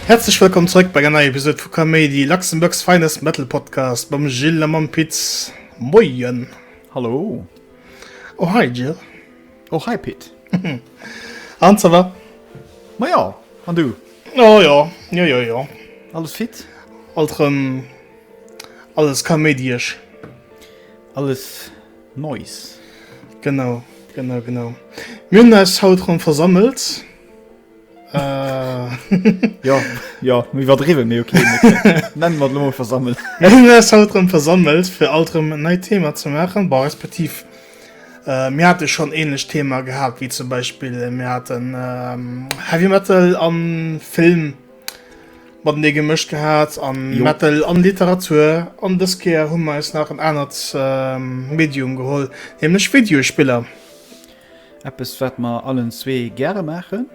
Häerzlech wëllkomm zrëck bei enger neier Episode vu Kaméidi, Luxembourg's Finest Metal Podcast mam Gilles a mam Piz. Moien! Hallo! Oh hei Gilles! Och hei Pit. An ça va? Ma jo, an du? Oh jo, jo jo jo. Alles fit? Alt rem alles kaméidiësch. Alles Neues. Genau, genau, genau. Mir hunn eis haut rem versammelt. Jo jo mi iwwerdriwwe mee ok Nenn mat Loe versammelt. Eng ass haut rëm versammelt fir alt rëm en neit Thema ze maachen, bon respektiv mir hate schonn en ähnlecht Thema gehat wéi zum Beispill mir haten Heavy Metal an Film matenee gemëscht gehat an Metal an Literatur an dës Kéier hu mer eis nach en anert Medium geholl, nämlech Videospiller. Eppes wat mer allen zwee gäre maachen.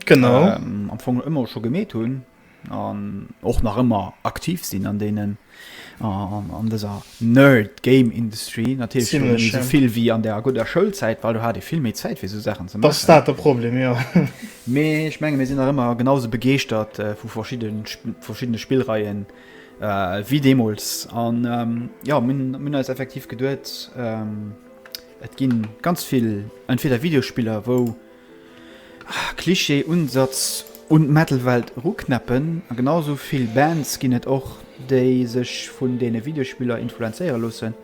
Genau. Ähm, am Fong ëmmer scho gemeet hunn an och nach ëmmer aktiv sinn an deenen an, an dëser Nerd Game Industry natierlech schon Ziemlich, ja. vill wéi an der gudder Schoulzäit, weil du hat e vill méi Zäit fir so Sachen ze Das ist maachen. dat de Problem, ja. Mee ech menge mir sinn nach ëmmer genauso begeeschtert äh, vu verschieden, Sp- verschiddene Spillreien äh, wéi deemools an ähm, ja mir hunn mir hunn eis effektiv geduet ähm, Et gin ganz vill entweder Videospiller wou Klischee Unsatz un d'Metal Welt eruknäppen, a genau sou vill Bands gin et och déi sech vun deene Videospiller influenzéiere loossen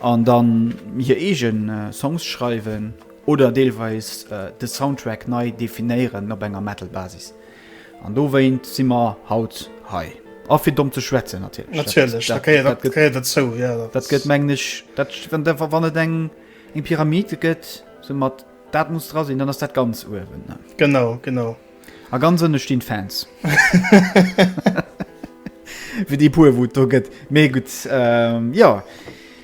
an dann hir eegen Songs schreiwen oder deelweis de Soundtrack nei definéieren op enger Metal Basis. An dowéint si mer haut hei. A fir domm ze schwätzen, natierlech. Natierlech, dat gehéiert derzou. Dat gëtt, mengen ech, wann et eng Pyramid gëtt, esou mat dat muss dra sinn, dann ass dat ganz uewen. Genau, genau. A ganz ënne stinn d'Fans. Fir déi puer, wou et do gëtt. Mee gutt, jo.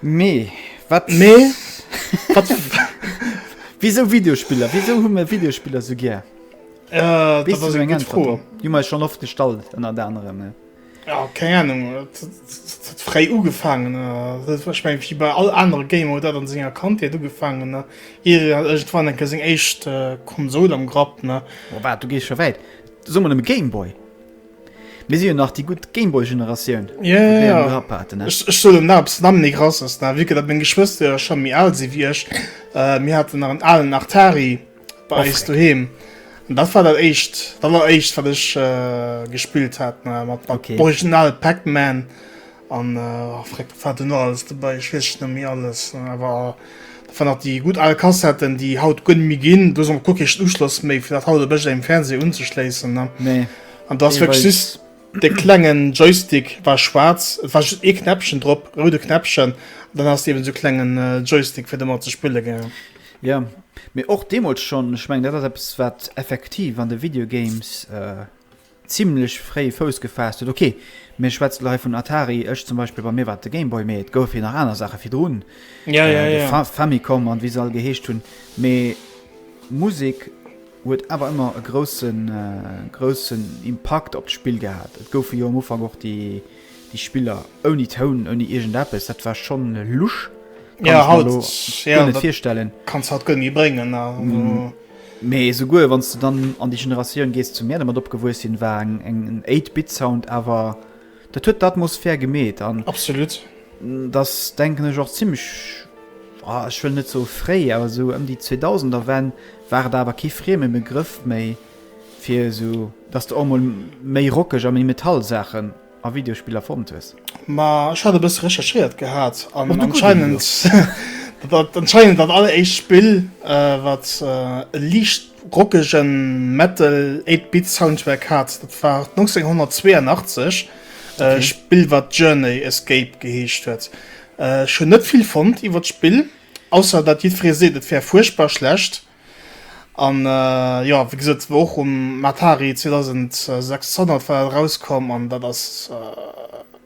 Mee wat mee wat wisou Videospiller? Wisou hu mir Videospiller sou gär? Äh, Wees du so eng Antwort op? Di mei schon oft gestallt ënner der anderem. Ja. Ja, keng Ahnung frei ugefangen ich mein, wie bei all andere Game oder dat an senger Kante ugefangen ne war enke seg echt äh, Konsol am Grapp ne oh, wat du gees schon wäit Summer dem Gameboy. Mir si jo nach déi gutt Gameboy-Generatioun, wou Yeah, yeah, déi yeah. eng Grapp haten, ne? Ech, ech soen dem Narps Namm ni graus aus der Wike, dat meng Geschwëster jo scho méi al si wéi ech. Äh, mir haten nach en alen Artari bei Oh, eis freck. doheem. An dat war dat éischt, d'alleréischt, wat ech äh, gespillt hat, ne, mat, mat Okay. original Pac-Man. An fréck wat do nach alles dobäi ech weess et net méi alles, awer dat waren nach déi gutt al Kassetten déi haut guer net méi ginn, do ass och guer kee Schlussschloss méi fir dat haut op iergendengem Fernseh unzeschléissen ne, an do ass wierklech just de klengen Joystick war schwaarz, et war just ee Knäppchen drop, roude Knäppchen, an dann has de eben sou klengen Joystick fir domat ze spille gengen. Jo, mee och deemools schonn, ech mengen dat ass eppes wat effektiv an de Video Games. zimlech fréi Fouss gefaasst huet, ok, mir schwätzt lo hei vun Atari, ech zum Beispill, bei mir war et de Game Boy, mee et gouf jo nach aner Saache virdrun, de Famicom an wéi se all geheescht hunn, mee Musek huet awer ëmmer e grousse groussen Impakt op d'Spill gehat. Et goufe jo am Ufank och déi Spiller ouni Toun, ouni iergend eppes, dat war schonn lusch, kann ech mer elo guer net virstellen. Mee esouguer wann s de dann an déi Generatioun gees, zu mär dermat opgewuess sinn, war en Eight-Bit-Sound awer, dat huet d'Atmosphär gemeet. An dat ass, denken ech, och zimmlech, ech wëll net soe fréi, awer esou ëm déi Zweetausenderwenn war et awer kee frieme Begrëff méi, fir esou, datt de och emol méi rockeg a méi Metal-Saachen. a Videospiller fonnt hues? Ma ech hat e bësse recherchéiert gehat an anscheinend dat anscheinend dat alleréischt Spill wat e liicht rockege Metal 8 Bit Soundtrack hat, dat war 1982 e Spill wat Journey Escape geheescht huet. Ech hunn net vill fonnt iwwer d'Spill ausser dat jiddweree seet et wär fuerchtbar schlecht. An jo, wéi gesot, war och um Atari 2600 war dat erauskomm, an dat ass,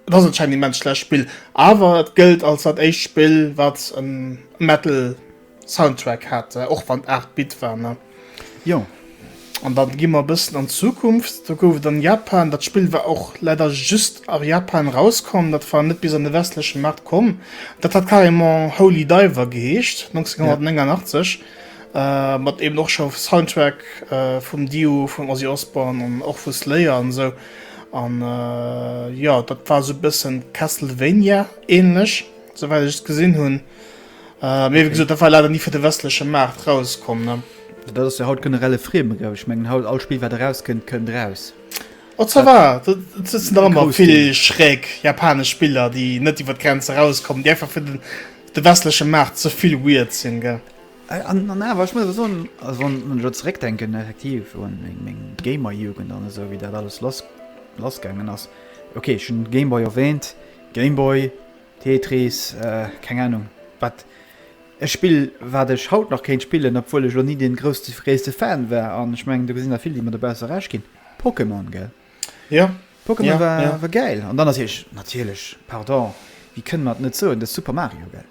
et ass anscheinend e immens schlecht Spill, awer et gëllt als dat éischt Spill, wat e Metal-Soundtrack hat, och wann et 8 Bit war, ne? Jo. An dann gi mer e bëssen an d'Zukunft. Do gouf et an Japan, dat Spill war och leider just a Japan erauskomm, dat war net bis an de westleche Maart komm, dat hat carrément Holy Diver geheescht, 1989, mat eben och scho Soundtrack vum Dio, vum Ozzy Osbourne an och vu Slayer an esou. An jo, dat war esou e bëssen Castlevania-ähnlech, souwäit ech et gesinn hunn. Äh, mee wéi gesot, dat war leider ni fir de westleche Maart rauskomm, ne? Dat ass jo haut generell e Friem, glaube ech. Ech mengen haut, all Spill, wat erauskënnt, kënnt raus. Oh, ça va! Et sëtzen der ëmmer vill schräg japanesch Spiller, déi net iwwer d'Grenz erauskommen, déi einfach fir den, de westleche Maart ze vill weird sinn, gell? Äh, an, an awer, ech muss awer soen, also wann, wann ech elo zeréckdenken, effektiv, un meng, meng Gamer-Jugend an esou, wéi dat alles lass, lassgaangen ass. Okay, ech hunn Game Boy erwähnt, Game Boy. Tetris, keng Ahnung wat, e Spill wat ech haut nach kéint spillen, obwuel ech elo ni dee gréisste Fan war, an ech mengen do gesinn der vill déi mer dobausse Recht ginn, Pokémon gell? Jo, Pokémon war gäil. An dann natierlech, natierlech, pardon, wéi kënne mer et net soen, de Super Mario gell?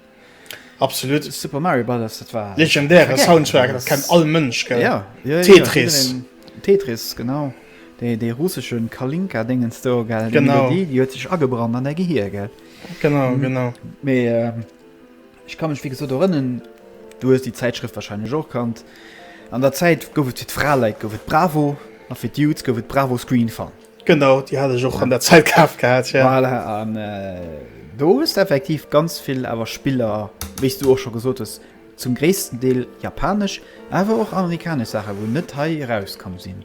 Absolut. Super Mario Brothers, dat war. Legendäre Soundtrack, dat kennt all Mënsch gell? Tetris. Tetris genau. Dei russesche Kalinka dengens do gell déi Melodie déi huet sech agebrannt an däi Gehir gell? Genau genau. Mee ech ka mech wéi gesot erënnen, du hues déi Zäitschrëft wahrscheinlech och kannt. An der Zäit gouf et fir d'Fraleit gouf et Bravo a fir d'Dudes gouf et Bravo Screen Fun. Genau déi hat ech och an der Zäit kaf gehat jo. Voilà an do hues de effektiv ganz vill awer Spiller wéi s du och scho gesot hues zum gréissten Deel japanesch awer och amerikanesch Saache wou net hei erauskomm sinn.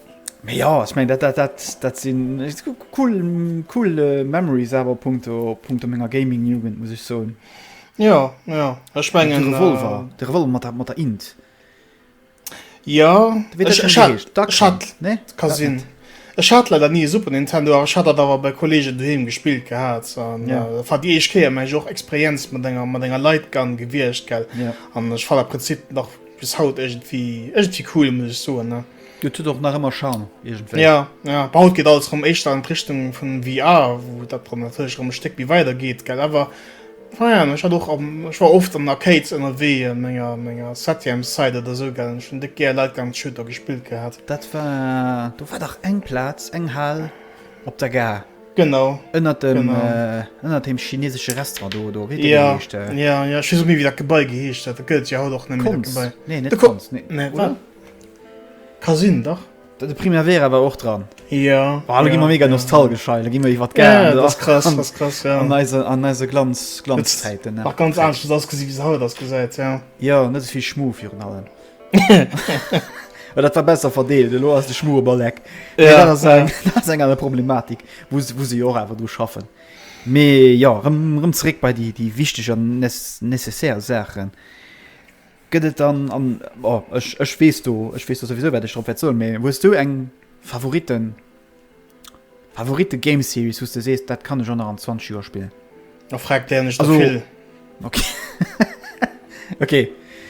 Mee jo, ech mengen dat dat dat sinn cool cool Memories awer punkto punkto menger Gaming Jugend muss ech soen. Jo jo ech mengen de Revolver äh, de Revolver mat der mat der Int. Jo ka sinn. Ech hat leider nie e Super Nintendo, awer ech hat dat awer bei Kolleegen doheem gespillt gehat an yeah. äh, war déi eich Kéier meng och Experienz mat enger mat enger Lightgun gewiecht gell yeah. an ech fan der Prinzip nach bis haut irgendwie irgendwie cool muss ich soen ne. Et huet och nach ëmmer Charme iergendwéi. Jo, jo, bon, haut geet alles erëm éischter an d'Richtung vun VR, wou dat Problem natierlech erëm e Stéck méi weider geet, gell? Awer, naja, ech hat och, ech war oft an Arcades ënnerwee, a menger, menger Septiemszäit oder esou, gell, an ech hunn déck gär Lightgun-Shooter gespillt gehat. Dat war, do war dach eng Plaz, eng Hal op der Gare. Genau. Ënnert dem, genau. Ënnert deem chinesesche Restaurant do, do, wéi huet dee geheescht? Jo, jo, jo, ech weess och net méi, wéi dat Gebai geheescht huet. Dat gëtt et jo haut och net méi, dat Gebai. D'Konz? Nee, net d'Konz, nee. Nee, wat? Ka sinn, dach. De Primavera war och dran. Jo. Oh, lo gi mer mega nostalgesch hei. Lo gi mer iwwer d'Gare. Dat ass krass, dat ass krass, jo. An eise, an eise Glanz, Glanzzäiten, ne? Nach ganz anescht hues ausgesi wéi se haut ausgesäit, jo. Jo, net esouvill Schmu virun allem. Well dat war besser verdeelt. Elo ass de Schmu op all Eck. Jo, jo. Dat ass eng, dat ass eng aner Problematik, wou se, wou se jo och awer dru schaffen. Mee jo, rëm, rëm zeréck bei déi, déi wichteg an nes, nécessaire Saachen. Gëtt et dann an, o ech ech weess do ech weess do souwisou wat ech drop wäert soen, mee hues du eng Favorite Favorite Game Series wou s de sees dat kann ech och nach an 20 Joer spillen? Da fragt der ech der vill. Ok ok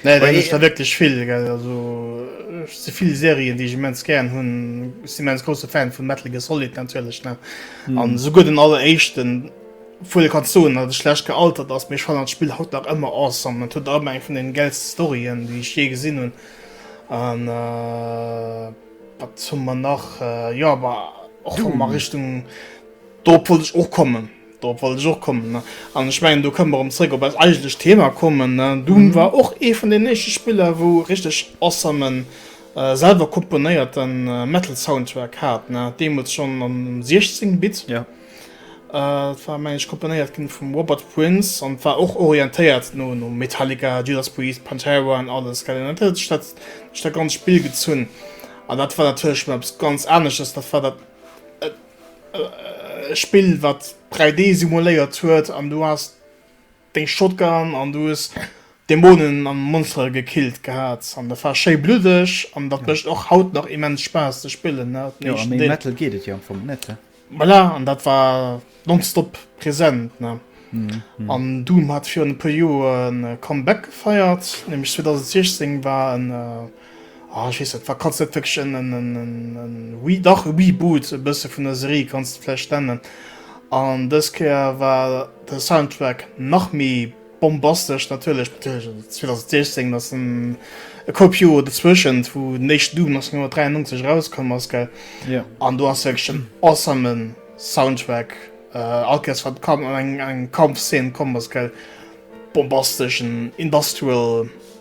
nee der ech der wierklech vill gell also ech si vill Serien déi ech immens gären hunn si immens grousse Fan vun Metal Gear Solid natierlech ne an esouguer den alleréischten. Obwuel ee kann soen, datt et schlecht gealtert ass, mee ech fannen dat Spill haut nach ëmmer awesome. Et huet ëmmer eng vun den gäilste Storyen déi ech jee gesinn hunn an wat hu mer nach, jo bah och wa mer Richtung, dorop wollt ech och kommen, dorop wollt ech och kommen ne an ech mengen do kënne mer erëm zréck op eist eigentlecht Thema kommen ne. Doom war och ee vun den éischte Spiller wou e richteg awesomen, selwer komponéierten Metal Soundtrack hat ne, deemools schonn am 16 Bit. Et war mengen ech komponéiert ginn vum Robert Prince an war och orientéiert no no Metallica, Judas Priest, Pantera an alles gell an dat huet sech dat duerch dat ganzt Spill gezunn an dat war natierlech schonn eppes ganz anesches. Dat war dat e Spill wat 3D simuléiert huet an du has. Deng Shotgun an du hues Dämonen an Monstere gekillt gehaat an dat war schéi bluddeg an dat mecht och haut nach immens Spaass ze spillen ne, den Jo, a éischten méi Deel. Metal geet et jo am Fong net, he? Voilà, an dat war nonstop present ne, an Doom hat virun e puer Joer e Comeback gefeiert, nämlech 2016 war en Ah, ech weess net, wa kanns net wierklech en, en, en, en, en, oui, dach e Reboot e bësse vun der Serie kanns de vläicht nennen. An dës Kéier war de Soundtrack nach méi bombastesch natierlech, natierlech 2016, ass en e Koup Joer dozwëschent, wou den éischten Doom 1993 erauskomm ass, gell? Ja. An do ass wierklech en awesomen Soundtrack, äh, all Kéiers wat Kam eng, eng Kampfszene komm ass, gell, bombasteschen Industrial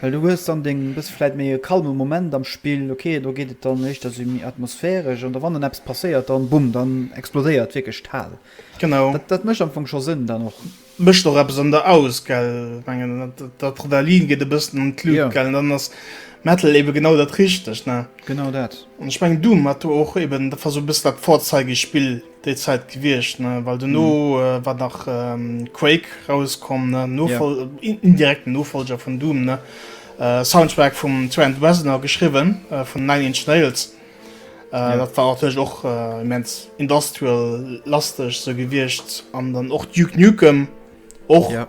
Well du hues dann deng e bësse vläit méi e kalme Moment am Spill, ok, do geet et dann éischter esou méi atmosphäresch, an da wann dann eppes passéiert, dann bumm, dann explodéiert wierklech d'Hal. Genau. Dat, dat mécht am Fong scho Sënn dann och. Mécht och eppes an der aus, gell? Ech mengen, d'Adrenalin geet e bëssen an d'Lut, gell? Jo. An dann ass Metal ebe genau dat Richtegt, ne? Genau dat. An ech mengen, Doom hat do och eben, dat war esou e bësse dat Vorzeigespill. Déi Zäit gewiescht, ne? Well dono äh, war nach ähm, Quake rauskomm, ne? Nofol ja. Äh, in, indirekten Nofolger vun Doom, ne? Äh, Soundtrack vum Trent Reznor geschriwwen, äh, vun Nine Inch Nails. Äh, ja. Dat war natierlech och äh, immens industrial lasteg se gewiescht. An dann och Duke Nukem och. Ja.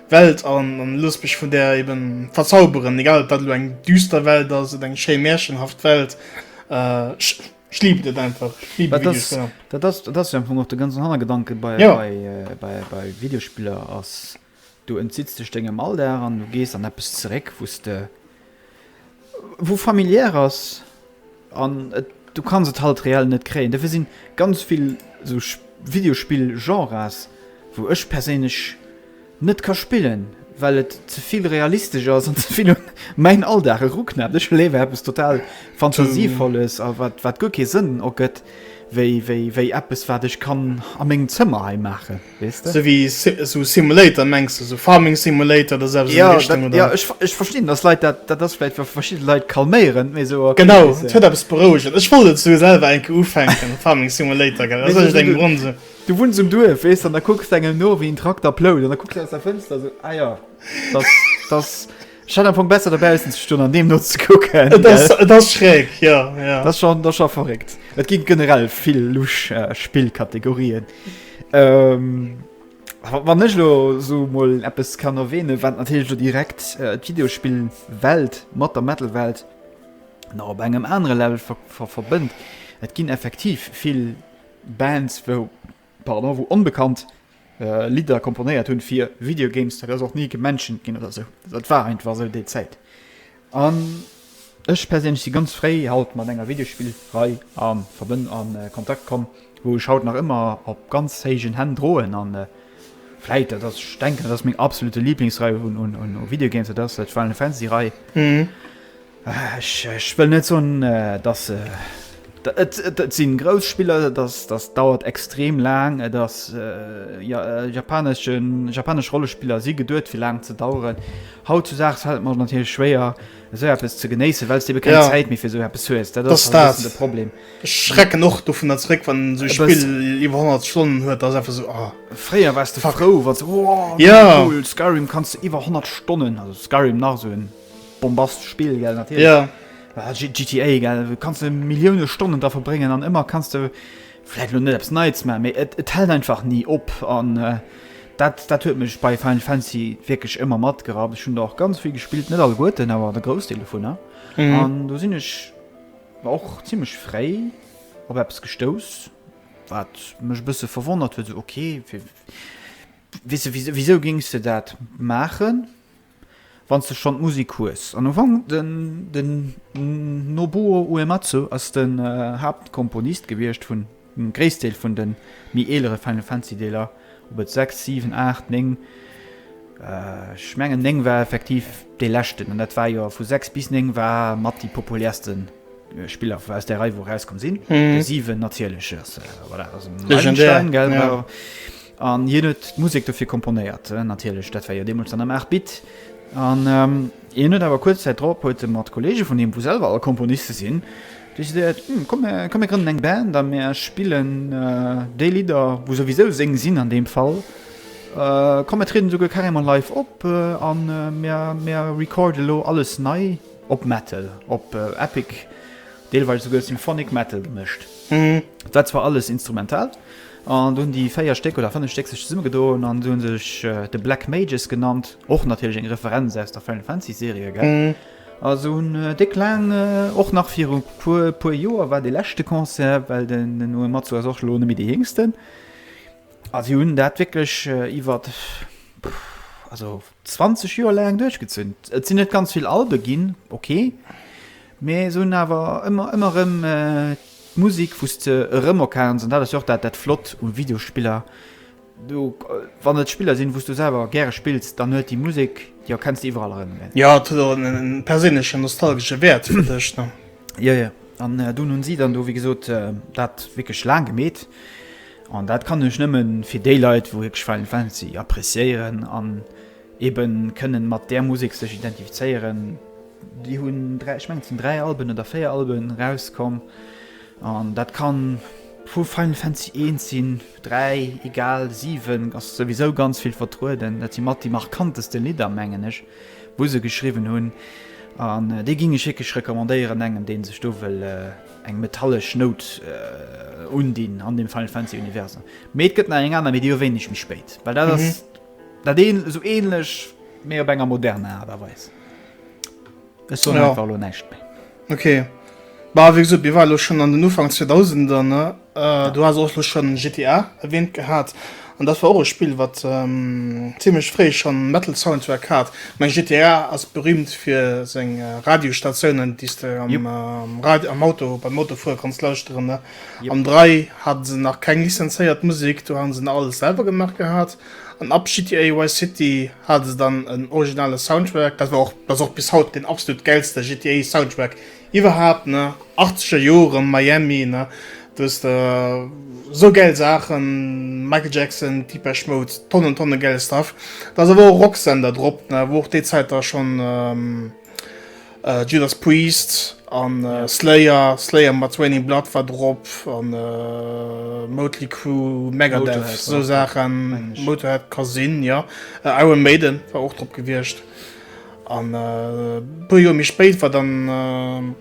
Welt an loosst mech vun där eben verzauberen, egal ob dat elo eng düster Welt ass oder eng schéi märchenhaft Welt. Ech liben et einfach, ech liben Videospiller. Dat ass jo am Fong och de ganzen Hannergedanke bei Videospiller, ass du entzitts dech dengem Alldag an du gees an eppes zeréck, wou s de Wou familiär ass an et du kanns et halt reell net kréien. Dofir sinn ganz vill sou Videospill Genres wou ech perséinlech net ka spillen well et zevill realistesch ass an zevill un mäin Alldag eruknäppt. Ech hu léiwer eppes total Fantasievolles a wat wat guer kee Sënn ergëtt wéi wéi wéi eppes wat ech kann a mengem Zëmmer hei maachen. Wees de? Sou wéi Simulator mengs de, sou Farming Simulator oder sou eppes an déi Richtung oder? Ja, jo, ech verstinn, dass Leit dat, dat ass vläicht fir verschidde Leit calméierend, mee sou. Genau, et huet eppes Berouegend. Ech wollt et sou selwer eng Kéier ufänken, Farming Simulator, gell, aus iergendengem Grond sou. Du wunns um Duerf, weess de, an da kucks de engem no, wéi en Trakter plout, an da kucks de aus der Fënster sou, ah jo, dass, dass. Ech hat am Fong besser dobaussen ze stoen an deem nozekucken. Et ass, et ass schräg, jo, jo. Dat ass scho, dat ass scho verréckt. Et gi generell vill lusch Spillkategorien. Wann ech elo esou emol eppes kann erwähnen, wat natierlech elo direkt d'Videospillwelt mat der Metal-Welt nach op engem anere Level verbënnt, et ginn effektiv vill Bands, wou Pardon, wou onbekannt Lidder komponéiert hunn fir Video Games, dat ass och ni gemenschent ginn oder sou, dat war einfach sou déi Zäit. An ech perséinlech si ganz fréi haut mat enger Videospill-Rei a Verbënn a Kontakt komm, wou ech haut nach ëmmer op ganz héijen Hänn droen a vläit dat ass, ech denken dat ass meng absolute Liblingsrei un Video Games, dat ass d'Final Fantasy-Rei. Ech wëll net soen, datt et si grouss Spiller, dat dauert extrem laang. Et ass japanesch Rollespiller si geduet, fir laang ze daueren. Hautzudaags fält et mer natierlech schwéier, esou eppes ze genéissen, well s de ebe keng Zäit méi fir esou eppes hues. Dat ass e bëssen de Problem. Ech schrecken och dovunner zeréck, wann esou e Spill iwwer 100 Stonnen huet. Dat ass einfach esou. Fréier waars de frou, wann s de, Wow, mega cool, Skyrim kanns de iwwer 100 Stonnen, also Skyrim nach esou en. Bombast Spill gell natierlech GTA gell kanns de Millioune Stonnen dra verbréngen an ëmmer kanns de vläit lo net eppes Neits maachen, mee et hält einfach ni op. An dat dat huet mech bei Final Fantasy wierklech ëmmer matgerappt. Ech hunn der och ganz vill gespillt, net alleguerten, awer de Groussdeel dovunner. An do sinn ech och zimmlech fréi op eppes gestouss, wat mech e bësse verwonnert huet, esou ok, wéi wéi wéi wéisou géings de dat maachen? Wanns de schon d'Musik hues an Ufank, den Nobuo Uematsu ass den Haaptkomponist gewierscht vun dem Gréisstdeel vun den méi eelere Final Fantasy Deeler, op et 6, 7, 8, 9, ech mengen 9 war effektiv dee leschten, an dat war jo vu 6 bis 9 war mat déi populärsten Spiller aus där Rei wou erauskomm sinn, de 7 natierlech ass voilà, ass en Meilenstein, gell? An hien huet d'Musek dofir komponéiert, natierlech, dat war jo deemools dann am 8 Bit. An hien huet awer kuerz Zäit drop huet e mat Kolleege vun him, wou selwer all Komponiste sinn, decidéiert, Hm, komm mir grënnen eng Band a mir spillen déi Lidder, wou souwisou seng sinn an deem Fall. Komm mir trieden esouguer carrément live op a mir recorde elo alles nei op Metal, op Epic, deelweis esouguer Symphonic Metal gemëscht. Dat war alles instrumental. An do hunn déi véier Stéck oder fënnef Stéck sech zesummegedoen an si hu sech The Black Mages genannt, och natierlech eng Referenz aus der Final Fantasy Serie, gell? Also hunn déck laang, och nach viru puer puer Joer war dee leschte Concert, well den Uematsu ass och elo net méi dee Jéngsten, a si hunn dat wierklech iwwer, also 20 Joer laang duerchgezunn. Et sinn net ganz vill Albe ginn, ok, mä se hunn awer ëmmer ëmmer erëm. D'Musik wous de erëm erkenns, an dat ass jo och dat Flott u Videospiller, do wann et Spiller sinn wous du selwer gäre spills, dann huet déi Musek, déi erkenns de iwwerall erëm, ne? Jo, et huet och en perséinlechen nostalgesche Wäert fir dech, ne? Jo, jo, an dunn hunn si dann do, wéi gesot, dat wierklech laang gemeet, an dat kann ech nëmmen fir déi Leit wou wierklech Final Fantasy appreciéieren an. eben kënnen mat där Musek sech identifizéieren. Déi hunn dräi, ech mengen et sinn dräi Alben oder véier Alben erauskomm an dat kann vu Final Fantasy 1 sinn, 3, egal, 7 ass souwisou ganz vill vertrueden. Dat si mat déi markanteste Lidder, mengen ech, wou se geschriwwen hunn an déi ginn ech wierklech recommandéieren engem, dee sech do wëll eng metallesch Nout undinn an dem Final Fantasy Universum. Mee et gëtt nach eng aner, mee déi erwänen ech méi spéit, well dat ass. Dat een esou ähnlech, mee op enger moderner Art a Weis. Ech soen einfach lo näischt méi. Okay. Bah, wéi gesot, mir ware lo schonn an den Ufank 2000er, ne? Du has och lo schonn GTA erwähnt gehat. An dat war och e Spill, wat zimmlech fréi schonn Metal-Soundtrack hat. Ech mengen, GTA ass berüümt fir seng Radiostatiounen, déi s de am Rad-, am Auto, beim Autofuere kanns lauschteren, ne? Am 3 hate se nach keng lizenzéiert Musek, do hate se nach alles selwer gemaach gehat. An ab GTA Vice City hate se dann en originale Soundtrack, dat war och, dat ass och bis haut deen absolut gäilste GTA Soundtrack iwwerhaapt ne, achtzeger Jore Miami ne, do hues de sou gäil Saachen, Michael Jackson, Depeche Mode, Tonnen Tonne gäile Stuff. Da ass awer och Roxanne da drop ne, wou och déi Zäit da schonn. Judas Priest an Slayer, Slayer mat Raining Blood war drop an Motley Crue, Megadeth, esou Saachen, Motorhead ka sinn, jo. Iron Maiden war och drop gewiescht. An e puer Joer méi spéit war dann,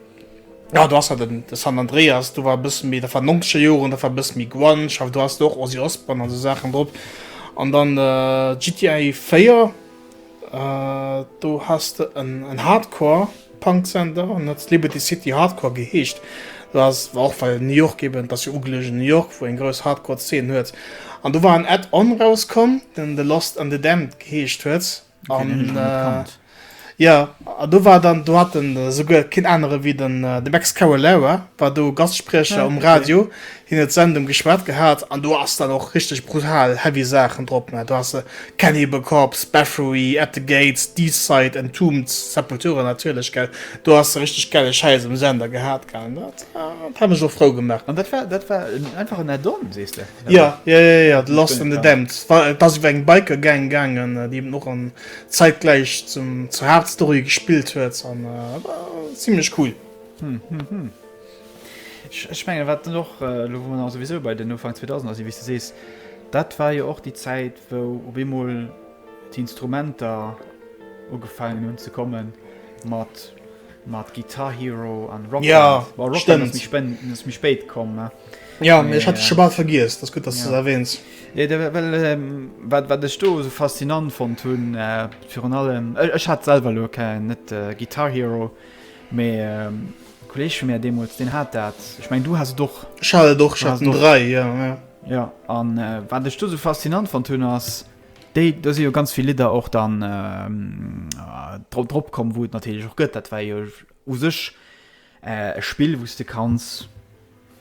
jo do ass hat den San Andreas, do war e bësse méi, dat war nonzeger Joren, dat war e bësse méi Grunge, awer do ass do och Ozzy Osbourne an esou Saachen drop. An dann GTA 4. Do has de en Hardcore Punk Center an huet Liberty City Hardcore geheescht. Do ass war och well New York eben, dass jo ugelegen New York, wou eng grouss Hardcore Zeen huet. An do war en Add-on rauskomm, den The Lost and the Damned geheescht huet. An jo, an do war dann, do hat en esouguer keen anere wéi den Max Cavalera war do Gastspriecher um Radio. Hien huet Send um geschwat gehat an do ass dann och richteg brutal heavy Saachen drop, mä do has de Cannibal Corpse, Bathory, At the Gates, Deicide, Entombed, Sepultura natierlech, gell. Do has de richteg gelle Schäiss um Sender gehat, gell. An dat hat mech och frou gemaach. An dat war, dat war einfach en Add-on, sees de? Jo, jo, jo, jo, The Lost and the Damned. Et ass iwwer eng Biker Gang gaangen, déi eben och an zäitgläich zum, zur Haaptstory gespillt huet an war zimlech cool. Ech mengen, wat dann och, elo wou mer dann souwisou bei den Ufank 2000er sinn, wéi s de sees, dat war jo och déi Zäit, wou op eemol d'Instrumenter ugefaangen hunn ze kommen, mat Guitar Hero an Rock Band. Bon, Rock Band ass méi spéit komm. Jo, mee ech hat et scho bal vergiess, dat ass gutt, datt s de et erwäns. Well wat ech do esou faszinant fonnt hunn, virun allem, ech hat selwer elo keng, net Guitar Hero, Mee e Kolleg vu mär deemools, deen hat dat. Ech mengen, du has et och. Ech hat et och, ech hat den 3, jo, jo. Jo, a wat ech do esou faszinant fonnt hunn, ass déi, do si jo ganz vill Lidder och dann dra dropkomm, wou et natierlech och gëtt. Dat war jo u sech e Spill, wou s de kanns.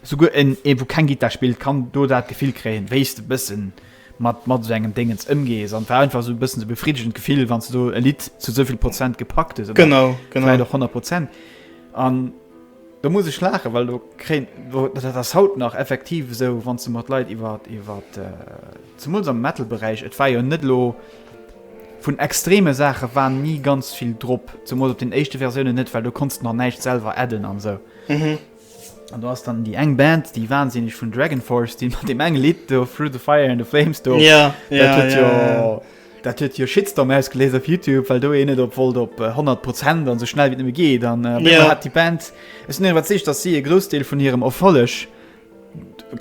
Souguer en, ee wou keng Gittar spillt, kann do dat Gefill kréien, wéis de bëssen mat mat esou engem Déngens ëmgees. An et war einfach esou e bëssen esou e befriddegend Gefill, wann s de e Lidd zu esou vill Prozent gepackt hues, oder vläit och 100 Prozent. An do muss ech laachen, well do kréien, dat ass haut nach effektiv esou, wann s de mat Leit iwwer, iwwer, zemools am Metal-Beräich, et war jo net elo, vun extreme Saache war ni ganz vill drop, zemools op den éischte Versiounen net, well do konns de nach näischt selwer adden an esou. An do ass dann déi eng Band, déi wansinneg vun Dragonforce, déi mat deem enge Lidd do, Through the Fire and the Flames do, Ja, dat ja, huet ja, jo, ja, ja. dat huet jo Shitstorm ausgeléist op Youtube, well do een net op wollt op 100 Prozent an esou schnell wéi et nëmme geet. An op eemol Ja. hat déi Band, ech sinn iwwerzeegt, datt si e Groussdeel vun hirem Erfolleg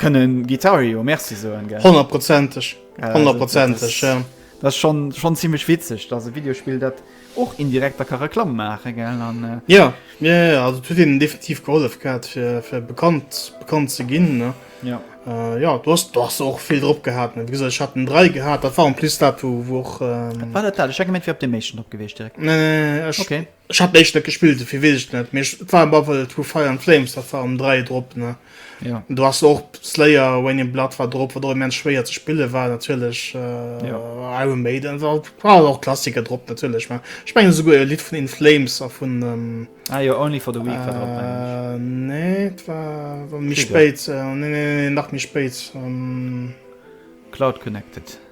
kënne Guitario Merci soen, gell. Honnertprozenteg, Ja, also, dat honnertprozenteg, ass, ja. dat ass schonn, schonn zimmlech witzeg, datt e Videospill dat. Och indirekt da ka Reklamm maachen, gell? An, äh. Jo, jo, jo, jo, also et huet hinnen definitiv gehollef gehat, fir, fir bekannt, bekannt ze ginn, ne? Jo. Äh, jo, do ass, do ass se och vill drop gehat, ne? Wéi gesot, ech hat den 3 gehat, dat war en plus dat, wou, wou och, ähm. Wat war dat dat? Ech hat gemengt, et wär op deem éischten drop gewiescht direkt. Nee, nee, nee, ech. Okay. Ech hat den éischten net gespillt, dofir weess ech et net, mee ech, et war op alle Fall, et wou Fire and Flames, dat war um 3 drop, ne? Ja. Du hast och Slayer Wayne Blood war drop wat der men schwéier ze spille war natierlech äh, ja. Iron Maiden war, war och Klassiker drop natierlech war Spengen so e Lied vun den Flames a vun ähm, ah, ja, only for the week äh, drop, äh, nee, war, war mi spéit äh, nee, nee, nee, nach mi spéit ähm, Cloud connected.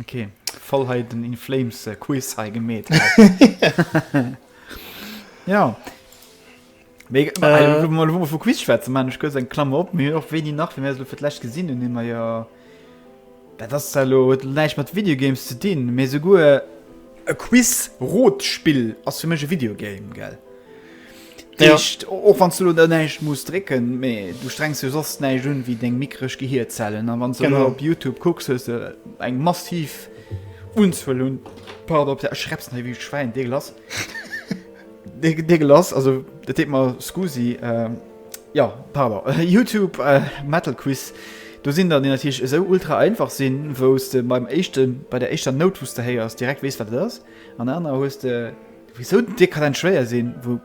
Ok voll hei den in Flames äh, Quiz hei gemet Ja Mee, äh, äh, mal, mal, Quiz schwätzen man ich eng Klammer op mir och wéi nach fir fir d'lächt gesinn hun immer ja Dat ass lo huet näicht mat Videogames ze dinn mee souguer e Quiz Rotspill ass fir mech e Videogame gell. Ja. Deescht, och wann du lo da näischt muss drécken, mee du strengs jo soss näischt un wéi deng mikresch Gehierzellen. An wann du Genau. lo op Youtube kucks, hues du eng massiv Unzuel un, pardon, op der, ech schreps nei wéi e Schwäin, deegelass. Dee- deegelass, also dat deet mer scusi. Ähm, ja, pardon. Youtube äh, Metal Quiz, do sinn der, déi natierlech esou ultra einfach sinn, wou s de beim éischte, bei der éischter Nout, wou s de héiers, direkt weess, wat et ass. An anerer hues de Wéisou den Tier kann en schwéier sinn wou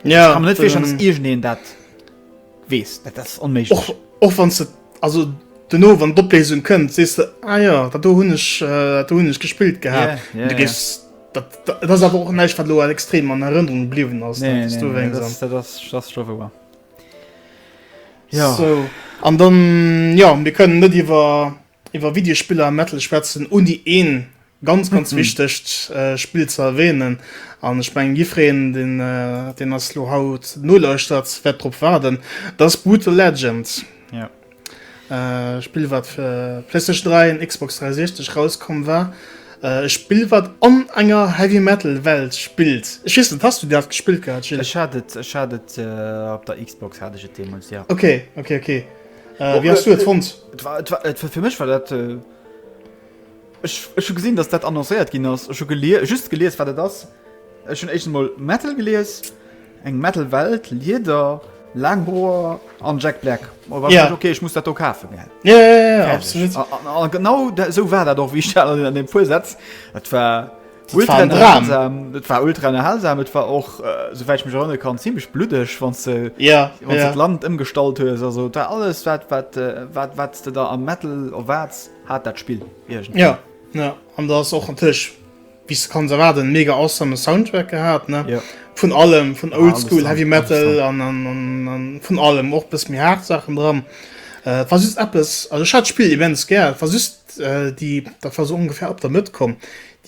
ja, kann net virstellen, dass irgendeen dat wees dat ass onméiglech och, och wann se also duerno wann d'Opléisung kënnt sees de ah ja dat do hunn ech äh, do hunn ech gespillt gehat yeah, yeah, du gehst yeah. Dat, dat, dat ass awer och näicht wat lo extrem an Erënnerung bliwen ass nee, nee, du nee, das, das, das, das ja. so. An dann ja mir kënnen net iwwer Iwwer Videospiller a Metal schwätzen, ouni een ganz ganz wichtegt Spill ze erwähnen, an ech mengen jiffreen deen deen ass lo haut nolauschtert wärt drop waarden, dat ass Brutal Legend, ee Spill wat fir Playstation 3 an Xbox 360 rauskomm war, ee Spill wat an enger Heavy Metal Welt spillt, ech weess net has du dat gespillt gehat Gilles? Ech hat et, ech hat et op der Xbox hat ech et deemols, jo. Ok ok ok. Äh, wie hast du et fonnt? fir mech war dat äh, Ech hu gesinn, datt dat annoncéiert ginn ass hu gelier just gelees wat dat ass. Ech hun echt mal Metal gelees eng Metal Welt Lieder Langhoer an Jack Black oh, ja. okay ich muss dat kafe ja, ja, ja, ja, ja, genau da, so war dat doch wie an dem Pusetz war Ultra unterhalsam, et war ultra unterhalsam, et war och äh, soweit ich mich erinnern kann ziemlich bluddeg, wann ze ja, wann ja. Land ëmgestallt hues also da alles wat wat äh, wat wat du da am Metal of wats hat dat Spiel irgendwie. Ja ja an da ass och natürlich bis du kannst erwarten mega awesome Soundtrack gehabt ne ja. vun allem vun ja, oldschool heavy metal an, an, an, an vun allem och bis mir hart Sachen dran äh, was ist Apps also hat Spiel events ger was ist déi, dat war sou ongefähr op der Mëtt komm,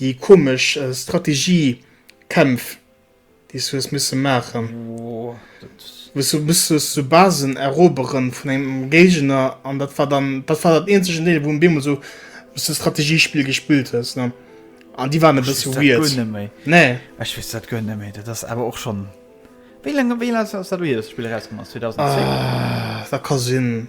déi komesch Strategiekämpf, déi s du hues misse maachen, wou s du musstest sou Basen erobere vun engem Géigner. An dat war dann, dat war dat eenzegen Deel, wou beemol sou sou Strategiespill gespillt hues, ne? An déi waren e bësse weird. Ech weess dat guer net méi. Nee? Ech weess dat guer net méi. Dat ass awer och schonn, wéi laang, wéi laang ass dat do hier, datt dat Spill erauskomm ass? 2010? Da ka sinn.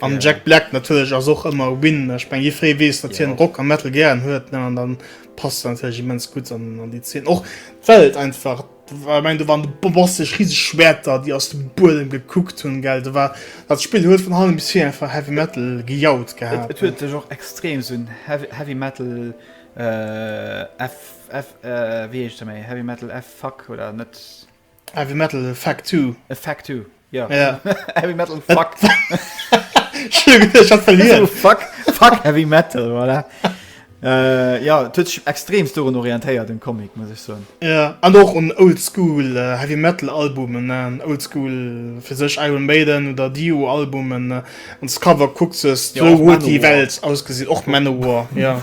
An Jack Black natierlech ass och ëmmer e Win. Ech meng, jee free weess, datt hien Rock a Metal gären huet, ne? An dann passt en natierlech immens gutt an an déi Zeen. Och well et einfach ech meng, do waren de bombastesch riseg Schwerter, déi aus dem Buedem gekuckt hunn, gell? Do war, dat Spill huet vun allem bis vir einfach Heavy Metal gejaut gehat, Et ne? huet sech och extrem esou en Heavy, Heavy Metal, F, F, wéi heescht e méi? Heavy Metal F-Fuck oder net? Heavy Metal Effect Two. Effect Two, jo. Ja. Heavy Metal Fuck. Fuck, fuck Heavy Metal, voilà. Äh, ja, huet sech extremst dorun orientéiert, den Comic, muss ech soen. Ja, an och un Oldschool äh, Heavy Metal Albumen, ne? Oldschool fir sech Iron Maiden oder Dio Albumen, ne? An d'Cover kuckt ses, ja, wou huet déi Welt ausgesinn? Och Manowar, ja.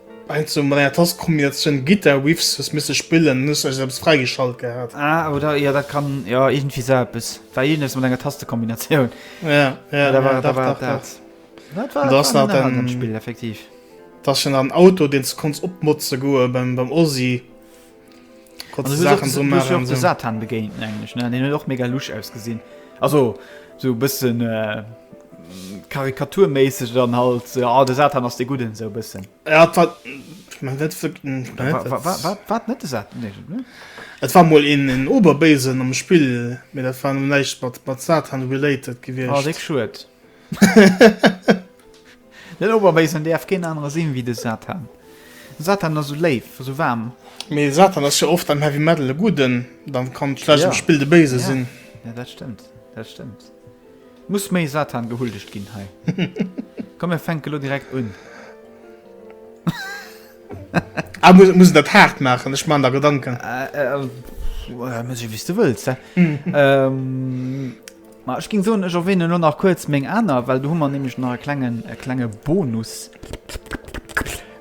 Ein zu meier Tastenkombination Guitar Riffs hues missen spillen an hues eis eppes freigeschalt gehaat. Ah oder jo dat kann jo iergendwéi sou eppes war iergendes mat enger Tastenkombination. Ja ja da war da war dat dat war dat war den den Spill effektiv. Dass schon an Auto deen ze konns opmotzen goen beim beim Ozzy. Satan begéint den och mega luch ausgesinn also so bëssen äh, karikaturméisseg dann halt se a de Satan ass de gudden sou bëssen wat net sat Et war mol een en oberbéisen am spill mé dat war no näicht mat mat satan related gewicht schuet. Den Oberbéisen däerf keen anere sinn ewéi de Satan. De Satan ass esou léif, esou waarm. Mee de Satan ass jo oft am Heavy Metal e Gudden, da kann et vläicht am Spill de Béise sinn. Jo, dat stëmmt, dat stëmmt. Et muss méi Satan gehuldegt ginn hei. Komm mir fänke lo direkt un. Ah, muss, muss een dat haart maachen? Ech man der Gedanken. Äh, äh, muss jo wéi s de wëlls, hä? Ma ech géing soen, ech erwähnen elo nach kuerz meng aner, well do hu mer nämlech nach e klengen, e klenge Bonus,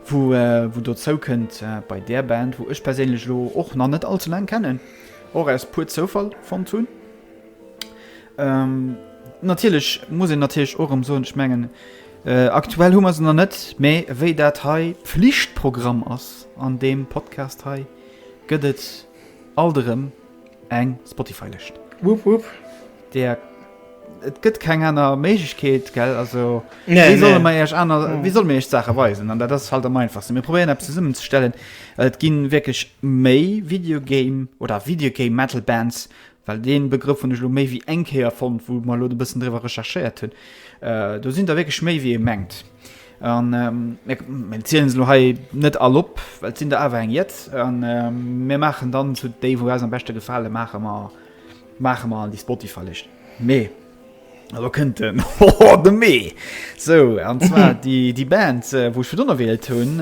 wou, wou dozou kënnt bei där Band, wou ech perséinlech elo och nach net allze laang kennen, och aus puer Zoufall fonnt hunn. Ähm, natierlech muss een natierlech och erëm soen, ech mengen, aktuell hu mer se nach net, mä wéi dat hei Pflichtprogramm ass an deem Podcast hei, gëtt et Alt erëm eng Spotify-Lëscht. Wupp wupp. Där, et gëtt keng aner Méiglechkeet, gell? Also, wéi solle mer Iech aner, wéi solle mir Iech d'Saache weisen? An dat ass halt am einfachsten. Mir probéieren eppes zesummenzestellen. Et gi wierklech méi Video Game oder Video Game Metal Bands well dee Begrëff hunn ech elo méi wéi eng Kéier fonnt, wou mer elo e bëssen driwwer recherchéiert hunn, do sinn der wierklech méi wéi ee mengt. An mir zielen se elo hei net all op, well et sinn der awer eng jett. An mir maachen dann zu déi, wou eis am beschte gefale maache mer, maache mer an déi Spotify-Lëscht Mee. A lo kënnt den Hoho, de Mee! Sou, an zwar déi Band, wou ech virdrun erwählt hunn,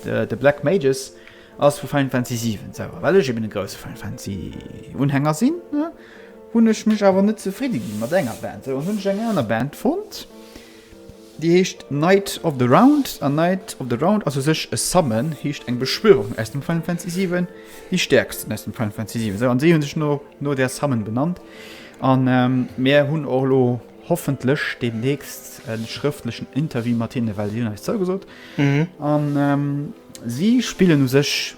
The Black Mages. Ass vu Final Fantasy 7 selwer. Well ech eben e grousse Final Fantasy Unhänger sinn, hunn ech mech awer net zefridde gi mat enger Band. Sou an hunn ech eng aner Band fonnt, déi heescht Knight of the Round. An Knight of the Round ass u sech e Summon, heescht eng Beschwörung aus dem Final Fantasy 7, déi stäerksten aus dem Final Fantasy 7. Sou an si hu sech no no där Summon benannt. An mir hunn och elo hoffentlech deemnächst e schrëftlechen Interview mat hinne, well si hunn eis zougesot. An. Si spillen u sech,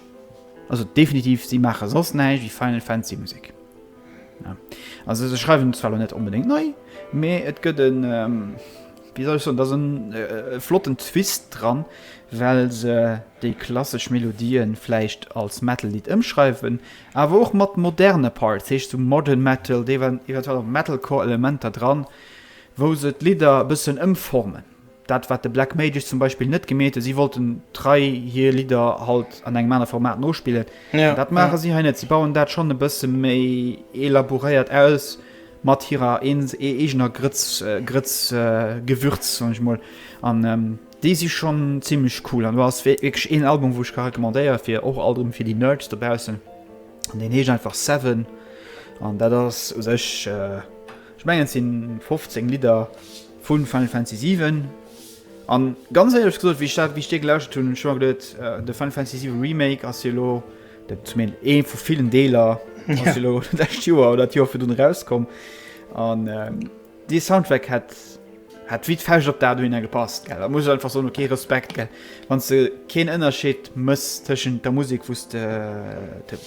also definitiv, si maache soss näischt wéi Final Fantasy Musek. Also se schreiwen zwar lo net onbedéngt nei, mee et gëtt e, wéi soll ech soen, et ass e flotten Twist dran, well se déi klassesch Melodië vläicht als Metal-Lidd ëmschreiwen, awer och mat moderne Parts, dat heescht sou Modern Metal, eventuell och Metalcore-Elementer dran, wou se d'Lidder e bëssen ëmformen. Dat wat de Black Mages zum Beispill net gemeet hunn, si wollten trei hir Lidder halt an engem anere Format nospillen. An dat maache si hei net. Si bauen dat schonn e bësse méi elaboréiert aus, mat hirer eegener Grëtz, Grëtz, Gewürz, soen ech mol. An déi si schonn zimlech cool. An do ass wierklech een Album, wou ech ka recommandéiere fir och alt erëm fir déi Nerds dobaussen. An deen heescht einfach Seven. An dat ass u sech, ech mengen et si 15 Lidder. Vun Final Fantasy 7 an ganz éierlech gesot wéi ech dat wéi ech dee gelauschtert hunn hunn ech mer geduet de Final Fantasy 7 Remake ass jo elo dat zumindest ee vu villen Deeler ass jo elo d'lescht Joer oder d'Joer virdrun erauskomm an dee Soundtrack hätt hätt wéi d'Fauscht op d'A do hinner gepasst gell. Da muss ech einfach soen okay Respekt gell wann s de keen Ënnerscheed mëss tëschent der Musek wou s de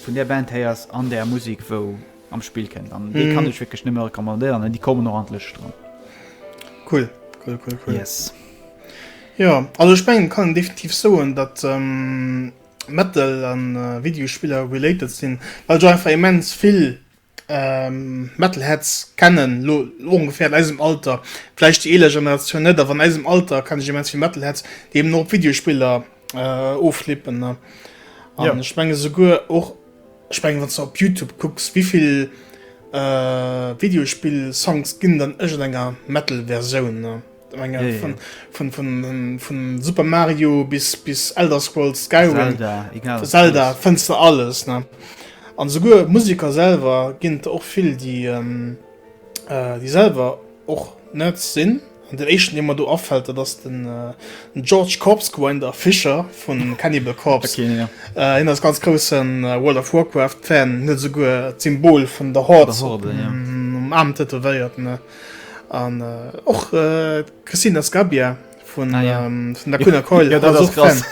vun där Band héiers an där Musek wou am Spill kënnt an dee kann ech wierklech nëmme recommandéieren an déi kommen och an d'Lëscht dran. Cool, cool, cool, cool. Yes. Jo, also ech mengen, kann een definitiv soen, datt Metal a Videospiller related sinn, well ech och einfach immens vill Metalheads kennen, elo ongeféier an eisem Alter, vläicht déi eeler Generatioun net, awer an eisem Alter kenne ech immens vill Metalheads, déi eben och op Videospiller Äh, ofschleepen ne. An ja. ech menge souguer och ech meng wann ze op Youtube kucks wievill äh, Videospill Songs ginn dann ech enger Metal Verioun ne. Menge, ja, von, ja. Von, von, von, von, Super Mario bis bis Elder Scrolls Skyrim Zelda, egal, Zelda fënste alles ne. An souguer Musiker selwer ginnt och vill déi ähm, äh, déi selwer Och net sinn. An den éischten dee mer do afällt dat ass den George Corpsegrinder Fischer vun Cannibal Corpse. Keen jo. Hien ass ganz groussen World of Warcraft Fan, hien huet esouguer d'Symbol vun der Horde um Aarm tätowéiert. An och d'Cristina Scabbia. vun ah, ja. ähm, vun der Kunner Keul ja, dat krass. Das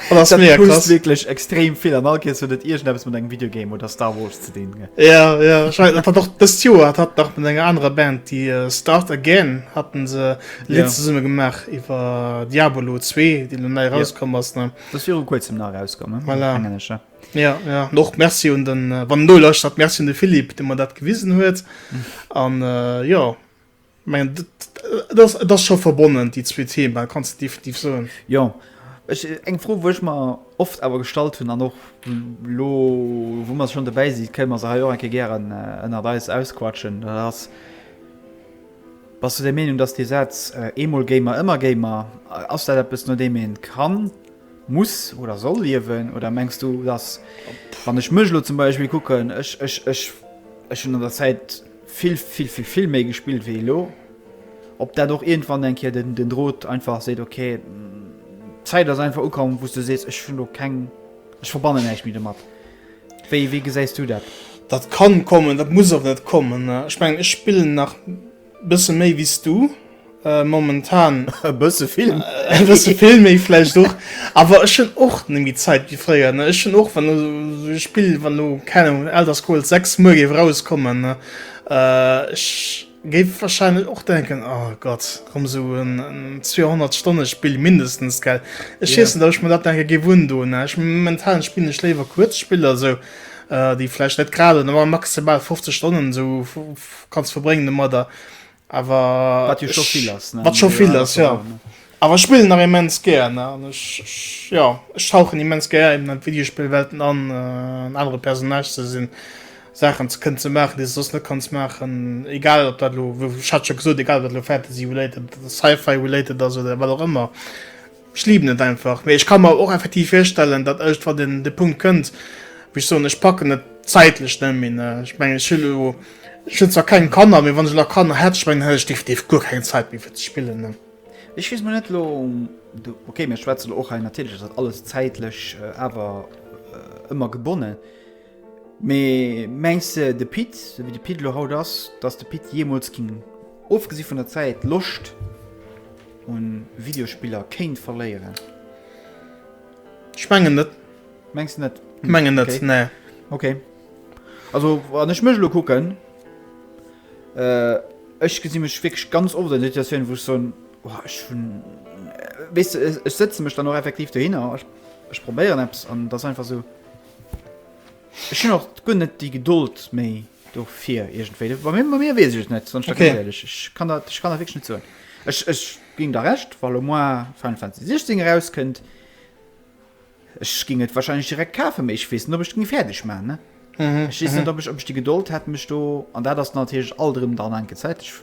das das wirklich extrem viel an all so net ir mit engem Videogame oder Star Wars zu den ja, ja. hat doch das Joer hat nach mit enger anderer Band die uh, Start again hatten se letzte ja. Summe gemacht iwwer Diabolo 2 die nun rauskommen ja. was ne das wäre kurz im nach rauskommen voilà. ja, ja. noch Merci und dann äh, wann du löscht hat Merci de Philipp den man dat gewiesen huet an mhm. äh, ja Mengen et ass et ass scho verbonnen déi zwee Thema kanns de definitiv soen. Jo, ech eng Fro wou ech mer oft awer gestallt hunn an och lo wou mer schonn dobäi si kënnen mer se hei och eng Kéier gären ënnert eis ausquatschen, dat ass, Bass du der Meenung, datt dee Saz eemol Gamer ëmmer Gamer, ass dat eppes no deem ee kann, muss oder soll liewen oder mengs du datt wann ech mech elo zum Beispill kucken, ech ech ech ech hunn an der Zäit, Vill, vill, vill, vill méi gespillt wéi elo. Ob dat och iergendwann eng Kéier den, den Drot einfach seet, ok, d'Zäit ass einfach ukomm, wou s du sees, ech hunn do keng, ech verbannen näischt méi domat. Wéi, wéi gesäis du dat? Dat kann kommen, dat muss och net kommen. Ech mengen, ech spillen nach e bësse méi wéi s du. Äh, momentan. E bësse vill. E bësse vill méi vläicht och. Awer ech hunn och net méi Zäit wéi fréier, ne. Ech hunn och, wann elo esou e Spill, wann elo, keng Ahnung, den Elder Scrolls 6 muer géif erauskommen, ne, ech géif warscheinlech och denken, O Gott, komm, esou en 200-Stonne-Spill mindestens, gell. Ech weess net, ob ech mer dat denke géif undoen, ne. Ech, momentan spillen ech léiwer kuerz Spiller esou, déi vläicht net grad, maximal 50 Stonnen esou kanns verbréngen domadder. Awer wat jo scho vill ass wat scho vill ass jo awer ech spillen nach immens gär ne an ech jo ech tauchen immens gär eben an Videospielwelten an äh, anere Personage ze sinn Saachen ze kënnen ze maachen déi sos net kanns maachen egal op dat lo hat scho gesot egal wat lo Fantasy related Sci-Fi related ass oder wat och ëmmer Ech liben et einfach. Mee ech ka mer och effektiv virstellen, datt ëschtwant een de Punkt kënnt, wou ech soen, ech packen et zäitlech net méi. Ech mengen, ech hu lo, ech hunn zwar keng Kanner, mee wann ech elo Kanner hätt, ech mengen, hätt ech definitiv guer keng Zäit méi fir ze spillen. Ech weess mol net elo, okay, mir schwätze lo och hei natierlech ass dat alles zäitlech awer ëmmer gebonnen. Mee mengs de, de Pit, esou wéi de Pit elo haut ass, dass de Pit jeemools géing, ofgesi vun der Zäit, d'Loscht u Videospiller kéint verléieren? Ech mengen net. Mengs de net? Ech mengen net, nee. Okay. Also wann ech mech elo kucken, ech gesi mech wierklech ganz oft an der Situatioun, wou ech soen, oh ech hunn, weess de, ech sëtze mech dann och effektiv dohinner, ech probéieren eppes an et ass einfach esou, Ech hun och guer net déi Gedold méi dofir iergendwéi. Bei mir, bei mir weess ech et net, wann ech da ganz Okay. éierlech. Ech kann dat, ech kann dat wierklech net soen. Ech, ech ginn der Recht, wa lo moar Final Fantasy 16 erauskënnt, ech géing et wahrscheinlech direkt kafen, mee ech weess net, ob ech et géing fäerdeg maachen, ne? Ech weess net, ob ech, ob ech déi Gedold hätt, mech do, an dat ass natierlech alt erëm dann enke Zäit, ech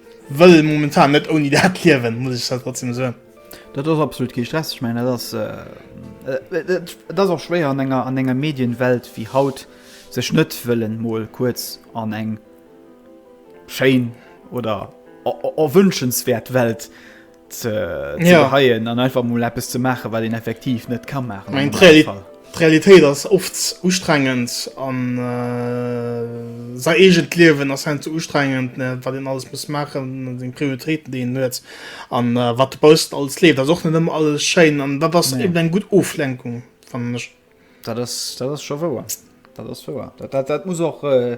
Wëll momentan net ouni dat liewen, muss ech zwar trotzdem soen. Dat ass absolut kee Stress. Ech mengen, dat ass, et ass och schwéier an enger, an enger Medienwelt wéi haut, sech net wëllen mol kuerz an eng schéin oder erwünschenswäert Welt ze geheien an einfach mul Appppes ze maache, wat een effektiv net ka maachen. Eng Realitéit ass oft ustrengend an sei egent Liewen ass hen ze ustrengend, wat een alles muss maachen, seng Prioritéiten deen huet an wat de Bausten alles leeft. Ass och net ëmmer alles schéin an dat ass eben eng gutt Oflenkung fannen ech. Dat ass, dat ass scho wouer. Dat ass wouer. Dat, dat, dat muss och. Äh,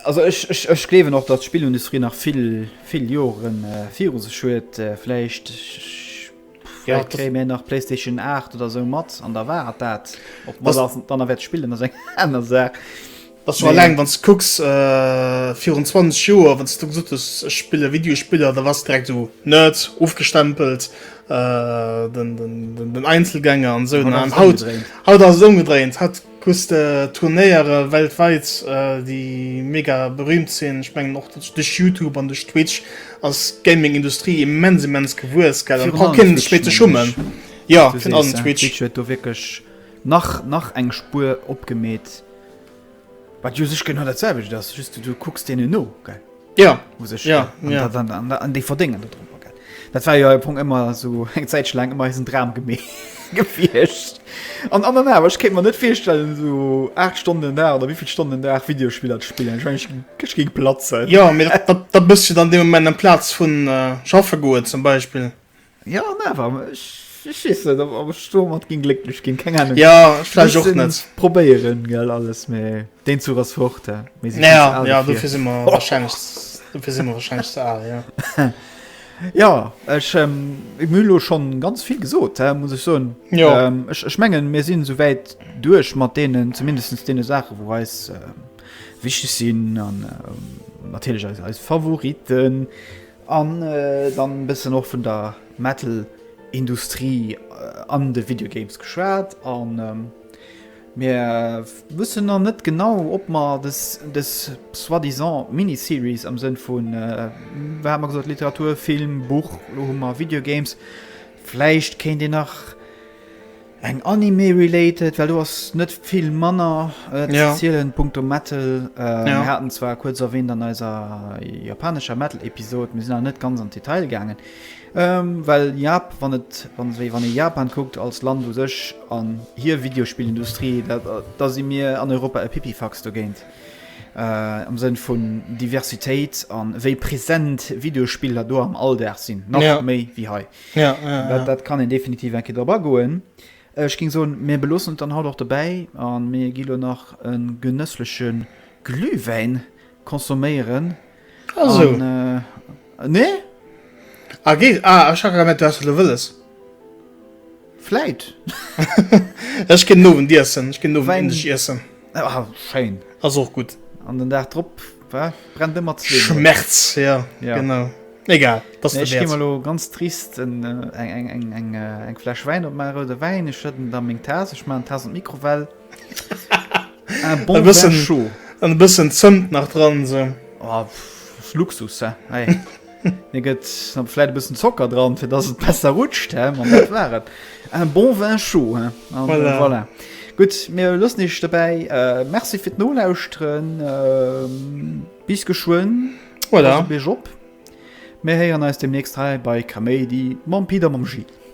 also ech, ech, ech gleewen och, datt d'Spillindustrie nach vill, vill Joren äh, viru sech huet. Äh, vläicht ja, vläicht kréie mir nach PlayStation 8 oder sou mat an da war dat. Ob man dann wert spillen, ass eng aner Saach. Dass du alleng wann s du kucks virun 20 Joer, wann s du gesot hues, ech spille Videospiller, da wars de direkt esou Nerd, ofgestempelt, den Einzelgänger an esou. An haut, haut ass et ëmgedréint. Haut hues de Turnéiere weltwäit, déi mega berüümt sinn. Ech mengen och duerch Youtube an duerch Twitch ass d'Gaming-Industrie immens, immens gewuess. Virun allem Twitch, mengen ech. Fir allem Twitch. Jo, virun allem Twitch. Twitch huet do wierklech nach, nach eng Spuer opgemeet. Wat jo sech genau dat selwecht ass, just du kucks deenen no, gell? Ja. U sech. Ja, ja. An, an, an, an déi verdéngen dat drop. Dat war jo ja, Punkt ëmmer sou eng Zäitche laang ëmmer eisen Dram gemee gefiecht. An an awer ech kéint mer net virstellen sou 8 Stonnen da oder wéivill Stonnen Dag Videospieler ze spillen. Ech meng ech géing platzen. Ja, mee dat, dat, dat bësst jo dann dee Moment am Platz vun äh, schaffe goen zum Beispill. Jo an awer, ech ech weess net ob ob ech domat géing glécklech ginn, keng Ahnung. Jo vläicht och net. Mussen probéieren gell alles, mee deen Zuch ass fort, hä, mir si vill ze al dofir. Dofir si mer warscheinlech ze al, jo. Jo ech hu mir elo schonn ganz vill gesot, hä, muss ech soen. Jo. Ech ech mengen mir sinn esouwäit duerch mat deenen, zumindest deene Saachen wou eis wichteg sinn an natierlech eis eis Favoriten. An dann bessen och vun der Metal Industrie an de Video Games geschwaat, an mir wussen nach net genau ob mer des soit disant Mini Series am Sënn vun, wat hat mer gesot, Literatur, Film, Buch, lo hu mer Video Games, vläicht kéint een nach. Eng Anime related, well do ass net vill manner ze zielen. Punkto Metal, mir haten zwar kuerz erwähnt an eiser japanescher Metal Episode, mir sinn awer net ganz an d'Detail gaangen, well Jap, wann et, wéi wann ee Japan kuckt als Land u sech an hir Videospillindustrie, da si mir an Europa e Pipifax dogéint am Sënn vun Diversitéit an wéi present Videospiller do am Alldag sinn, nach méi wéi hei. Ja, ja, ja. Dat kann een definitiv eng Kéier drop agoen. Ech ging soen, mir beloossen et dann haut och dobäi an mir gi lo nach en genësslechen Glühwäin consomméieren. Also. An, äh, nee? Ah, geet, ah, ech ha grad gemerkt, du hast, was du wëlles. Vläit. Ech ginn den Owendiessen, ech ginn den Owend Indisch iessen. Ah, schéin. Ass och gutt. An den Dag drop brennt ëmmer zwee. Schmerz, ja, ja. genau. Egal, dass nee, du lo ganz trist eng eng eng eng eng Flasch Wein op Mare de Wein ich schëtten da még Tas ich ma Tas Mikrowell bon bëssen scho an bëssen zënnt nach dran se oh, Luxus. Hey. Mir gëtt am Fläit e bëssen Zocker dran, fir datt et besser rutscht, hä? An dat war et. Un bon vin chaud, hä? An voilà. voilà. Gutt, mir loossen iech dobäi. Äh, merci fir d'Nolauschteren. Ähm, bis geschwënn. Voilà. Bis op. Mir héieren eis demnächst hei bei Kaméidi mam Pida, mam Gilles.